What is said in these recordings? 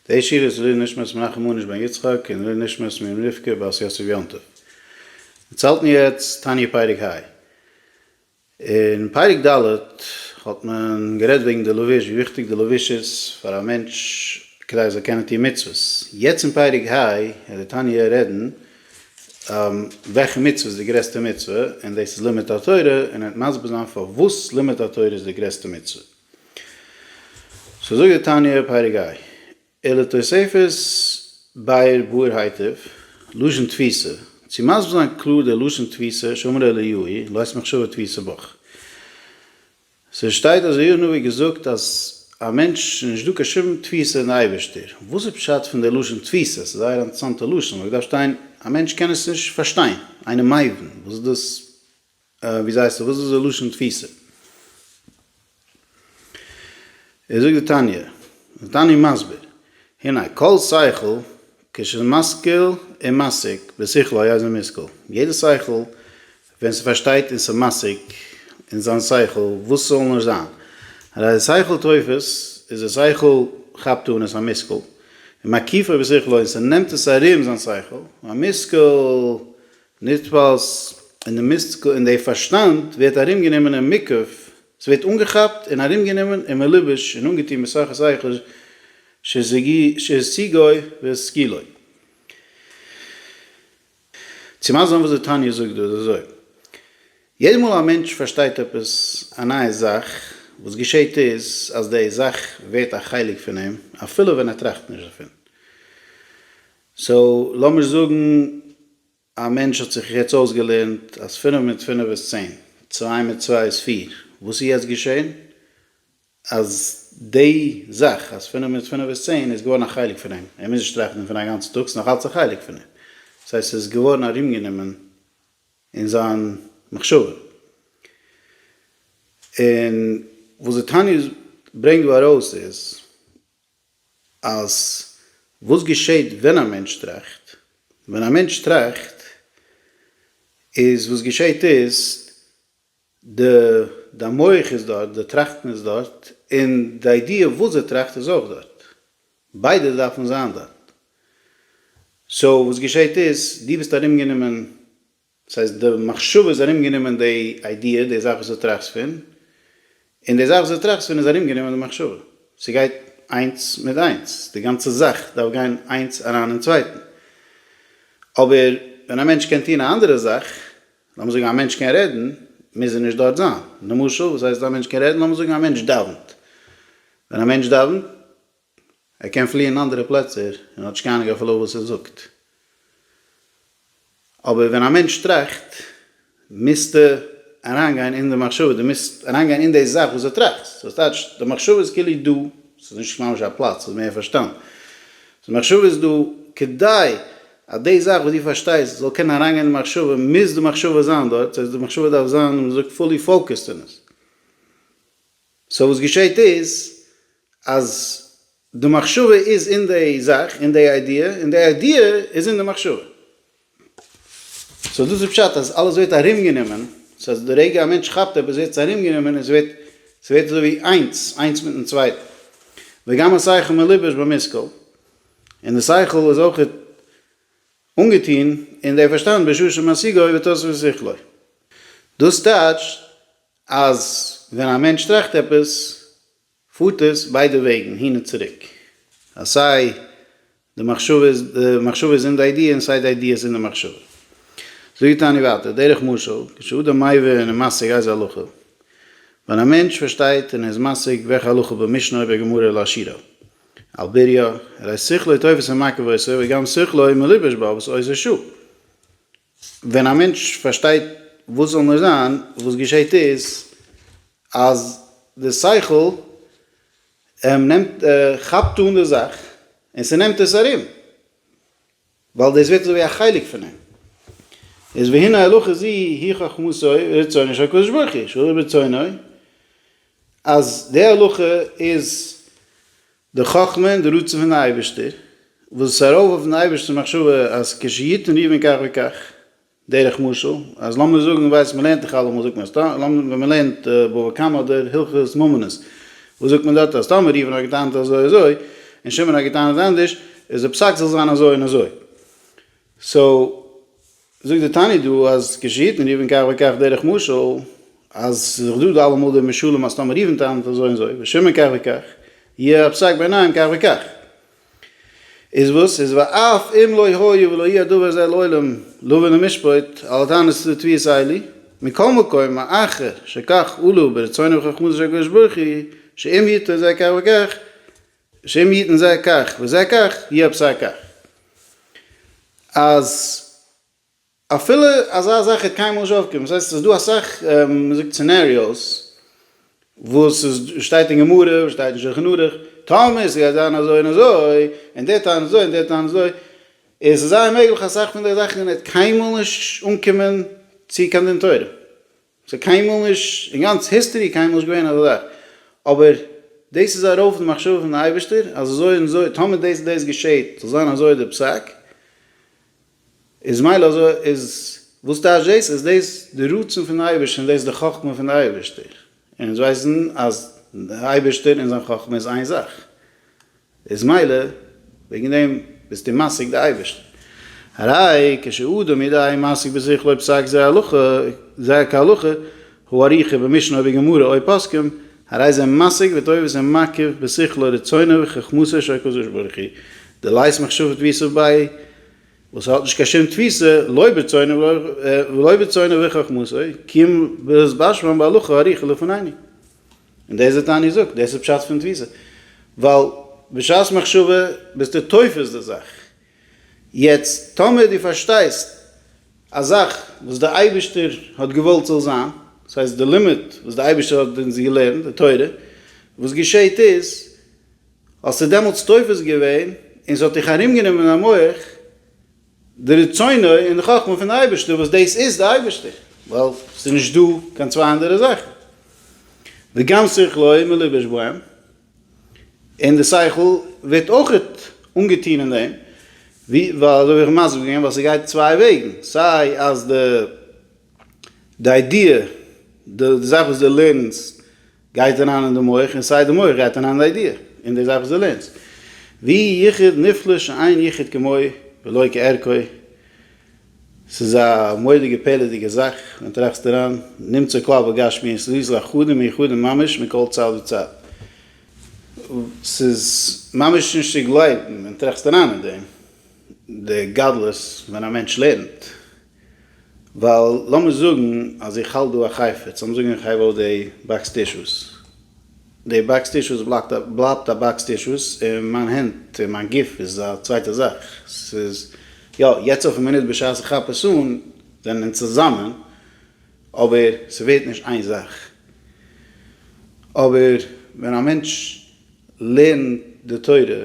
די שיר איז לעילוי נשמת מנחם מאניש בן יצחק און לעילוי נשמת מרים רבקה בת יוסף יום טוב. דערציילט מיר יעצט תניא פרק ה. אין פרק ד האט מען גערעדט וועגן די לבוש ווי וויכטיג די לבוש איז פאר א מענטש כדי ער זאל קענען טון מצוות. יעצט אין פרק ה וועט די תניא רעדן וועלכע מצוה איז די גרעסטע מצוה און דאס איז לימוד התורה און ער וועט מסביר זיין פארוואס לימוד התורה איז די גרעסטע מצוה. סאו זאגט די תניא פרק ג, אלא תוספת באר באר הייטב, לשון תפיסה, צו מסביר זיין קלאר די לשון תפיסה שאמר אליהוי, לעת מחשבה תפיסה בך. ס'שטייט אז אליהו הנביא האט געזאגט אז א מענטש איז נישט דא קיין שום תפיסה אין די אייבערשטער. וואס איז פשט פון די לשון תפיסה? ס'איז א זייער אינטערעסאנטע לשון, אויב דארף שטיין א מענטש קען עס נישט פארשטיין, איינער מייבין וואס דאס ווי זייסט דו וואס איז די לשון תפיסה? ער זאגט די תניא, די תניא מסביר, הנה כל שכל כשמשכיל און משיג בשכלו היה זה מושכל, יעדע שכל ווען ס'פארשטייט און ס'משיג אין זיין שכל וואס ס'זאל נאר זיין, הרי שכל תופס איז די שכל כאפט אן עס א מושכל, ומקיפו בשכלו און ס'נעמט עס ארום זיין שכל, והמושכל נתפעלס אין די מיסטיקל אין די פארשטאנד ווערט ארום גענומען אין מיקף ס'ווערט אנגעכאפט אין ארום גענומען אין מלובש אין אנגעטון מסכת איכה שהשיגוי והשכילוי צו מסביר וואס די תניא זאגט דא איז אזוי יעדע מאל א מענטש פארשטייט עפעס א נייע זאך וואס געשעהט איז אז די זאך ווערט א חלק פון אים אפילו ווען ער טראכט נישט דערפון. סאו לאמיר זאגן א מענטש האט זיך יעצט אויסגעלערנט אז פינף מיט פינף איז צען, צוויי מיט צוויי איז פיר, וואס איז יעצט געשען? אז די זאך אז פינף מיט פינף איז צען איז געווארן א חלק פון אים, ער מוז נישט טראכטן דערפון א גאנצן טאג, ס'איז נאך אלץ א חלק פון אים, דאס הייסט ס'איז געווארן ארומגענומען אין זיין מחשבה. און וואס די תניא ברענגט דא ארויס איז. אז וואס געשעהט ווען א מענטש טראכט, ווען א מענטש טראכט איז וואס געשעהט איז די די מח איז דארט, די טראכטן איז דארט, און די איידיע וואס ער טראכט איז אויך דארט, ביידע דארפן זיין דארט, סאו וואס געשעהט איז דו ביסט ארום גענומען דאס הייסט די מחשבה איז ארומגענומען די איידיע, די זאך וואס דו טראכסט פון, און די זאך וואס דו טראכסט פון איז ארומגענומען די מחשבה. ס'גייט איינס מיט איינס, די גאנצע זאך דארף גיין איינס אריין אין צווייטן. אבער ווען א מענטש קען טון א אנדערע זאך, לאמיר זאגן א מענטש קען רעדן, מוז ער נישט דארט זיין. למשל, וואס הייסט א מענטש קען רעדן? לאמיר זאגן א מענטש דאווענט. ווען א מענטש דאווענט, ער קען פליען אנדערע פלעצער און האט נישט קיין אנונג אפילו וואס ער זאגט. אבער ווען א מענטש טראכט מוזטו אריינגיין אין די מחשבה, דו מוזט אריינגיין אין די זאך וואס דו טראכסט, דאס טייטש די מחשבה איז כאילו דא, עס איז נישט ממש א פלאץ, עס איז מער פארשטאנד, די מחשבה איז דא, כדי אז די זאך וואס דו פארשטייסט זאל קענען אריינגיין אין די מחשבה מוז די מחשבה זיין דארט, דאס הייסט די מחשבה דארף זיין ווי מען זאגט פולי פאוקעסד אין עס. סאו וואס געשעהט איז אז די מחשבה איז אין די זאך, אין די איידיע, און די איידיע איז אין די מחשבה. סאו דאס איז פשט אז אלעס ווערט ארומגענומען, סאו אז די רגע א מענטש כאפט עפעס ווערט עס ארומגענומען און ס'ווערט ס'ווערט אזוי ווי איינס, איינס מיטן צווייטן. וגם השכל מלובש במושכל, און די שכל איז אויך אנגעטון אין די פארשטאנד בשעה שמשיגו עובר תוספות שכלו. דאס טייטשט אז ווען א מענטש טראכט עפעס פארט עס ביידע וועגן הין און צוריק אז סיי די מחשבה איז די מחשבה איז אין די איידיע און סיי די איידיע איז אין די מחשבה. זאגט תני ווייטער דרך משל כשאדם מבין ומשיג איזה הלכה, ווען א מענטש פארשטייט און ער איז משיג וועלכע הלכה במשנה אויב א גמרא לא עשירא על בריו, הרי שכלו תופס ומעכב עושה וגם שכלו מלובש בה וואס עושה שוא. ווען א מענטש פארשטייט וואס זאל נאר זיין, וואס געשעהט איז אז די שכל נעמט כאפט אן די זאך און ס'נעמט עס ארום, ווייל דאס ווערט אזויווי א חלק פון אים, איז והנה הלכה זו היא חכמתו ורצונו של הקדוש ברוך הוא, שהוא רצונו, אז די הלכה איז די חכמה און די רצון פון די אייבערשטער, וואס איז ארויף אויפן אייבערשטער מחשבה אז כש יתן יבין כך וכך, דרך משל, אז לאמיר זאגן, ווייסט מ'לערנט דאך אלעמאל זאגט מען אז טא, לאמיר ווען מ'לערנט בבא קמא אדער הלכות ממונות, וואס זאגט מען דארט אז טאמער ראובן האט געטענה'ט אזוי אזוי, און שמעון האט געטענה'ט אנדערש, איז די פסק זאל זיין אזוי און אזוי. סאו. זאגט די תניא דא אז כשהיתן ריבן כך וכך דרך משל, אז ס'איז דאך דא די אלעמאל די משלים אז טאמער ריבן טענה'ט אזוי און אזוי ושמעון כך וכך, יהיה הפסק בעיניהם כך וכך. איז וואס איז ואף אם לא היה ולא יהיה הדבר הזה לעולם לא מן המשפט על הטענות לתביעת איילי, מכל מקום מאחר שכך עלו ברצונו וחכמתו של הקדוש ברוך הוא שאם היתה זה כך וכך, השם יתן זה כך וזה כך יהיה בשר כך. אז אפילו אזא זאך העט קיינמאל נישט אויפקומען, דאס הייסט ס'איז דא אסאך מ'זאגט סינעריאוס וואס איז שטייט אין גמרא, שטייט אין שלחן ערוך, טאמער ס'גייט זיין אזוי און אזוי, און דער טענה'ט אזוי און דער טענה'ט אזוי, איז ס'איז זייער מעגליך אסאך פון די זאכן העט קיינמאל נישט אנקומען צו קיין דין תורה. ס'איז קיינמאל נישט, אין גאנץ היסטערי קיינמאל נישט געווען אזא זאך, אבער דאס איז ארויף די מחשבה פון די אייבערשטער אז אזוי און אזוי, טאמער דאס און דאס געשעהט זאל זיין אזוי די פסק, איז מילא אזוי, איז וואס טייטש דאס? איז דאס די רצון פון די אייבערשטער און דאס איז די חכמה פון די אייבערשטער, און אונז ווייסן אז די אייבערשטער און זיין חכמה איז איין זאך. איז מילא וועגן דעם ביסטו משיג די אייבערשטן, הרי כש אדם ידעי משיג בשכל אויב פסק זה הלכה זה כהלכה, הוא אריכא במשנה אויב גמרא אויב פוסקים, הרי זה משיג וטובת זה מקיף בשכלו רצונו וחכמתו של הקדוש ברוך הוא, דלית מחשבת ווי סוף ביי וואס האט נישט קיין שום תפיסה, לא ברצונו ולא ברצונו וחכמתו, קיום בלית באשמען בהלכה אריכא לפנינו. און דאס וואס טאני זאגט, דאס איז פשט פון תפיסה, ווייל בשעת מחשבה ביסטו תופס די זאך, יעצט טאמער דו פארשטייסט א זאך וואס דער אייבערשטער האט געוואלט ס'זאל זיין, דאס הייסט די לימוד וואס דער אייבערשטער האט אונז געלערנט, די תורה, וואס געשעהט איז, האסטו דעמאלטס תופס געווען, און ס'האט דיך ארום גענומען א מח, די רצונו און די חכמה פון די אייבערשטער וואס דאס איז די אייבערשטער ווייל עס איז נישט דא קיין צוויי אנדערע זאכן וגם שכלו מלובש בהם און די שכל ווערט אויך אנגעטון אין דעם וויל אזוי ווי איך האב מסביר געווען ווייל ס'גייט צוויי וועגן סיי אז די די איידיע די זאך וואס די לערנסט גייט אריין אין די מח און סיי די מח גייט אריין אין די איידיע און די זאך וואס דו לערנסט. ווי יחיד נפלא שאין יחיד כמוהו ולא כערכו, ס'איז א מורא'דיגע פעלערדיגע זאך ווען טראכסט אריין, נמצא כלל בגשמיות לוז לאחדים מיוחדים ממש מכל צד וצד, ס'איז ממש נישט צו גלייבן ווען טראכסט אריין אין דעם, די גדלות ווען א מענטש לערנט. ווייל לאמיר זאגן אז איך האלט דא א חפץ, לאמיר זאגן איך הייב אויף די באקס טישוס, די באקס טישוס בלייבט א באקס טישוס, און מיין הענט און מיין גוף איז א צווייטע זאך, ס'איז יא יעצט אויפן מינוט בשעת איך כאפ עס אן זענען אונז צוזאמען, אבער ס'ווערט נישט איין זאך. אבער ווען א מענטש לערנט די תורה,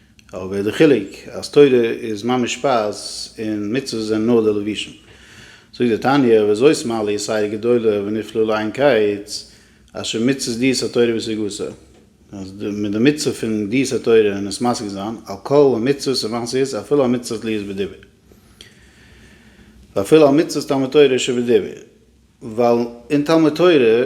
אבער די חילוק אז תורה איז ממש שפייז און מצוות זענען נאר די לבושים. זאגט די תניא וזאת מעלה יסיירא גדולה ונפלא לעין קיץ אשר מצוות דיעות התורה בסגותה, אז מיט די מצוה פון דיעות התורה און עס משיג זיין על כל המצוות ומעשיות אפילו על מצוות להיות בדיבור ואפילו על מצוות תלמוד תורה שבדיבור, ווייל אין תלמוד תורה.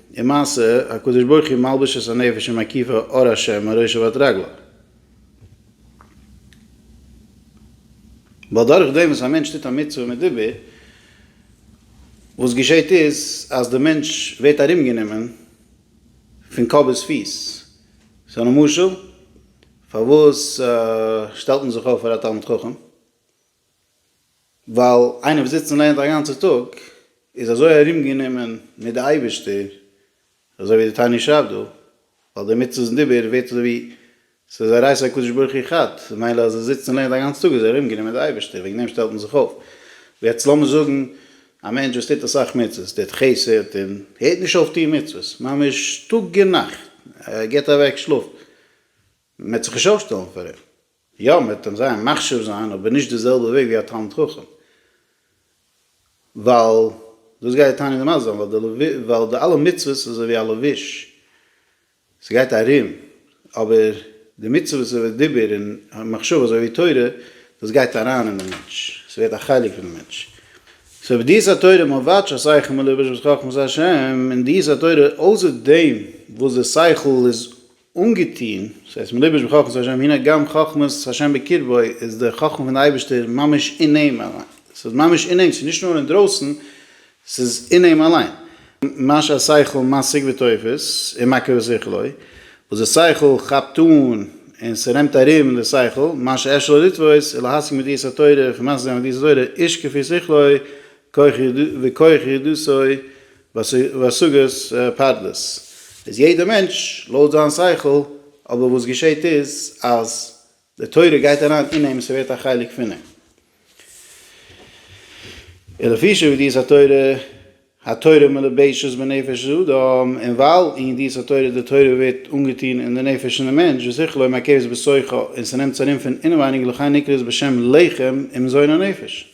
און מעשה, הקדוש ברוך הוא מלביש את הנפש עם הכיפה אור השם מראשו ועד רגלו. ווייל דורך דעם וואס א מענטש טוט א מצוה מיט דיבור, וואס געשעהט איז אז די מענטש ווערט ארומגענומען פון קאפ ביז פיס. ס'איז אן משל פארוואס שטעלט מען זיך אויף פאר א תלמיד חכם. ווייל איינער וואס זיצט און לערנט א גאנצע טאג איז אזוי ארום גענומען מיט די אייבערשטער, אזוי ווי די תניא שרייבט דא, ווייל די מצוות און דיבור ווערט אזוי ווי ס'איז א רייס הקדוש ברוך הוא חד, ממילא אז ער זיצט און לערנט א גאנצע טאג איז ער ארום גענומען מיט די אייבערשטער, וועגן דעם שטעלט מען זיך אויף. יעצט לאמיר זאגן א מענטש וואס טוט אסאך מצוות, טוט חסד און הערט נישט אויף טון מצוות, ממש טאג און נאכט, ער געבט אוועק שלאף, מען וועט זיך נישט אויפשטעלן פאר אים. יא, מען וועט אים זייער מחשיב זיין, אבער נישט די זעלבע וועג ווי א תלמיד חכם, ווייל דאס גייט די תניא דאמרת זיין, ווייל די אלע מצוות איז אזוי ווי א לבוש, ס'גייט ארום, אבער די מצוות איבער דיבור און מחשבה אזוי ווי תורה, דאס גייט אריין אין די מענטש, ס'ווערט א חלק פון די מענטש. סאו ווי דיעות התורה מבאטש א שכל מלובש בס חכמת ה', און דיעות התורה אויסער דעם וואס די שכל איז אנגעטוהן, סאיז הייסט מלובש בחכמת ה', הנה גם חכמת ה' בקרבו, איז די חכמה פון די אייבישטער ממש אין אים אליין, סאיז ממש אין אים, סאיז נישט נאר אינדרויסן, סאיז אין אים אליין, מה שהשכל משיג ותופס, און מכה בשכלו, וואס די שכל כאפט אן און ס'רעמט ארום די שכל, מה שאי אפשר לו לתפוס, און להשיג מידיעת התורה, פון משיג זיין מידיעת התורה, איש כפי שכלו, כח ידו וכח ידו סוי, וואסאגארס פאדלעס איז יעדער מענטש לויט זיין שכל, אבער וואס געשעהט איז אז די תורה גייט אריין אין אים, ס'ווערט א חלק פון אים, און לפי שבידיעת התורה, התורה מלובשת בנפש האדם, און ווייל אין ידיעת התורה די תורה ווערט אנגעטון אין די נפש פון די מענטש, ושכלו מעכבת בשוחו, און ס'נעמט זיך ארום פון אינעווייניג לכן נקרא עס בשם לחם עם זון הנפש.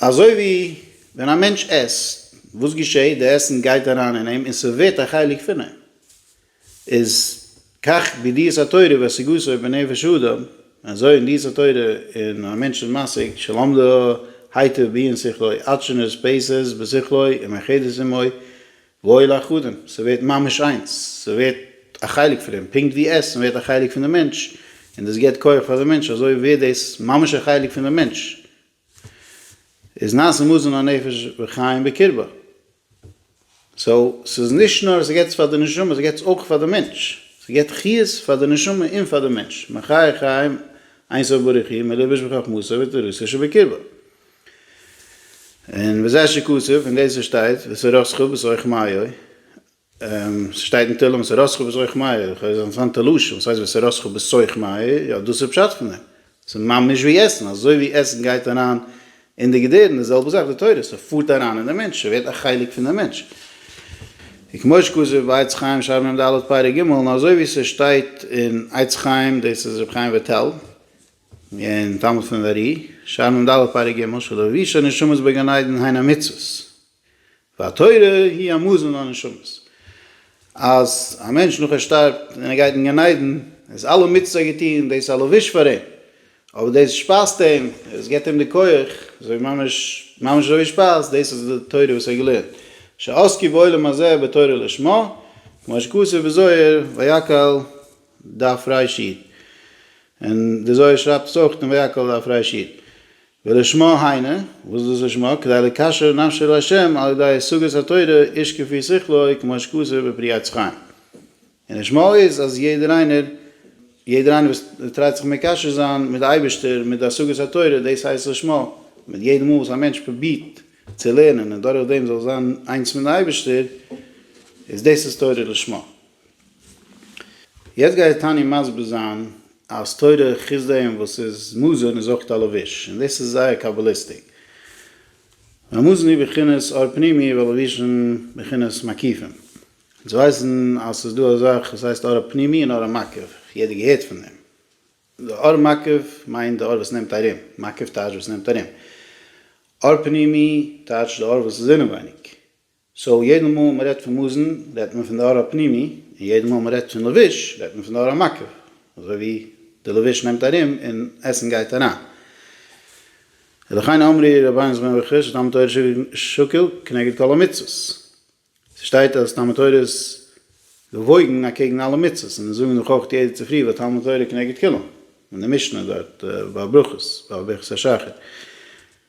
אזוי ווי ווען א מענטש עסט, וואס געשעהט? די עסן גייט אריין אין אים און ס'ווערט א חלק פון אים. איז כך בידיעת התורה והשיגותו בנפש האדם, אזוי אין ידיעת התורה און א מענטש איז משיג, שלמדה היטב בעיון שכלו, עטשנות פעסס בשכלו ומאחדת עמו, וואויל אייך אדם, ס'ווערט ממש איינס, ס'ווערט א חלק פון אים, פונקט ווי עסן ווערט א חלק פון די מענטש, און דאס געבט כח פאר די מענטש, אזוי ווערט דאס ממש א חלק פון די מענטש, איז נעשה מזון הנפש וחיים בקרבה, סאו ס'איז נישט נאר ס'געבט עס פאר די נשמה, ס'געבט עס אויך פאר די מענטש, ס'געבט חיות פאר די נשמה און פאר די מענטש, מחיה חיים אין סוף בריחי מלבוש בחכמתו ותורתו שבקרבה. און וזה שכתוב, און דאס וואס שטייט, ואת הרשך ואת רחמיו, ס'שטייט אין תהלים ואת הרשך ואת רחמיו, איך האב געזען אינטערסאנטע לשון, וואס הייסט ואת הרשך ואת רחמיו, יא דאס איז פשט פון דעם, ס'איז ממש ווי עסן, אזוי ווי עסן גייט אריין אין די געדערן, די זעלבע זאך די תורה, ס'פארט אריין אין די מענטש, ס'ווערט א חלק פון די מענטש. און כמו שכתוב בעץ חיים שער מ ד פרק ג, און אזוי ווי ס'שטייט אין עץ חיים, דאס איז ר' חיים וויטאל, אין תלמוד פון אר י, שער מ ד פרק ג משל לביש הנשמות בגן עדן הן המצוות, והתורה היא המזון לנשמות, אז א מענטש נאך ער שטארבט און ער גייט אין גן עדן איז אלע מצוות ער געטון און דאס א לביש פאר אים, אבער דאס שפייזט אים, עס געבט אים די כח, אזוי ממש ממש אזוי ווי שפייז, דאס איז די תורה וואס ער האט געלערנט, שעסקו בעולם הזה בתורה לשמה, כמו שכתוב בזוהר ויקהל דף רש י, און דער זוהר שרייבט עס אויך אין ויקהל דף רש י, ולשמה היינו, וואס איז דאס לשמה? כדי לקשר נפשו אל ה' על ידי השגת התורה איש כפי שכלו כמו שכתוב בפרי עץ חיים, און לשמה איז אז יעדער איינער, יעדער איינער וואס טרייט זיך מקשר זיין מיט די אייבערשטער מיט די השגת התורה, דאס הייסט לשמה, מיט יעדע מאל וואס א מענטש פרובירט צו לערנען און דורך דעם זאל זיין איינס מיט די אייבערשטער, איז דאס איז תורה לשמה. יעצט גייט תניא מסביר זיין אז תורה חוץ דעם וואס איז מזון איז אויך א לבוש, און דאס איז זייער קאבאליסטיק. והמזון הוא בחינת אור פנימי והלבישין בחינת מקיפין. אונז ווייסן אז ס'איז דא א זאך וואס הייסט אור פנימי און אור מקיף, יעדער געהערט פון דעם. די אור מקיף מיינט די אור וואס נעמט ארום, מקיף טייטש וואס נעמט ארום. אור פנימי טייטש די אור וואס איז אינעווייניג. סאו יעדע מאל מען רעדט פון מזון רעדט מען פון די אור הפנימי, און יעדע מאל מען רעדט פון לבוש רעדט מען פון די אור המקיף, אזוי ווי די לבוש נעמט ארום און עסן גייט אריין. ולכן אמרי רבינו זבנג וכו' שתלמוד תורה שוקל כנגד כל המצוות. ס'שטייט אז תלמוד תורה איז געוואויגן אקעגן אלע מצוות, און מיר זאגן דאך אויך יעדע צופרי ותלמוד תורה כנגד כולם, אין די משנה דארט ביי ברכות ביי ברכת השחר.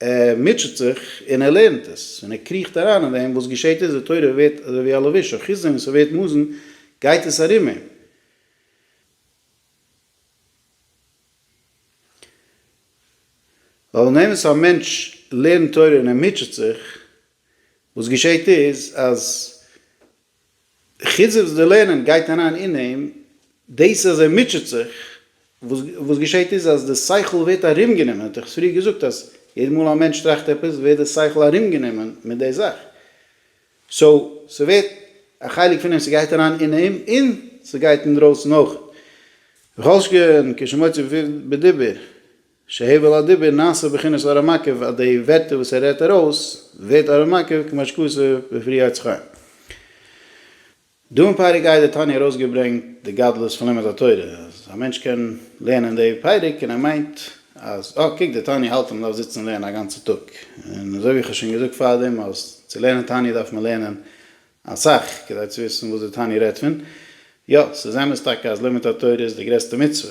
ער מוטשעט זיך און ער לערנט עס, און ער קריכט אריין אין דעם, וואס געשעט איז, די תורה ווערט אזוי ווי א לביש, א כיסוי, און ס'ווערט מאזן, גייט עס ארום אים. ווייל אין אמת א מענטש לערנט תורה און ער מוטשעט זיך, וואס געשעט איז, אז חוץ וואס די לערנען גייט אריין אין אים, דאס אז ער מוטשעט זיך, וואס וואס געשעהט איז אז די שכל ווערט ארומגענומען, האט איך עס פריער געזאגט אז יעדע מאל א מענטש טראכט עפעס ווערט די שכל ארומגענומען מיט די זאך, סאו ס'ווערט א חלק פון אים, ס'גייט אריין אין אים און ס'גייט אינדרויסן אויך. וכל שכן כשמוציא בדיבור. שהבל הדיבור נעשה בחינת אור המקיף אז די ווערטער וואס ער רעדט ארויס ווערט אור המקיף כמו שכתוב בפרי עץ חיים. דא אין פרק א האט דער תניא ארויסגעברענגט די גדלות פון לימוד התורה אז א מענטש קען לערנען די פרק און ער מיינט אז אה קוק דער תניא האלט אז מען דארף זיצן לערנען א גאנצע טאג און אזוי ווי איך האב שוין געזאגט פארדעם אז צו לערנען תניא דארף מען לערנען אסאך כדי צו וויסן וואס דער תניא רעדט פון. יא ס'איז אמת טאקע אז לימוד התורה איז די גרעסטע מצוה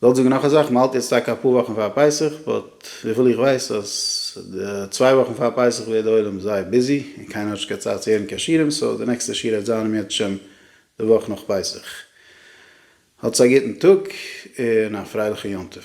כ'וועל זאגן נאך א זאך, מ'האלט יעצט טאקע אפאר וואכן פאר פסח, באט וויפיל איך ווייס אז די צוויי וואכן פאר פסח ווערט די עולם זייער ביזי, און קיינער האט נישט קיין צייט צו הערן קיין שירים, סאו די נעקסטע שיעור העט זיין ימי תשמ די וואך נאך פסח. האטס א גוטן טאג און א פרייליכן יום טוב.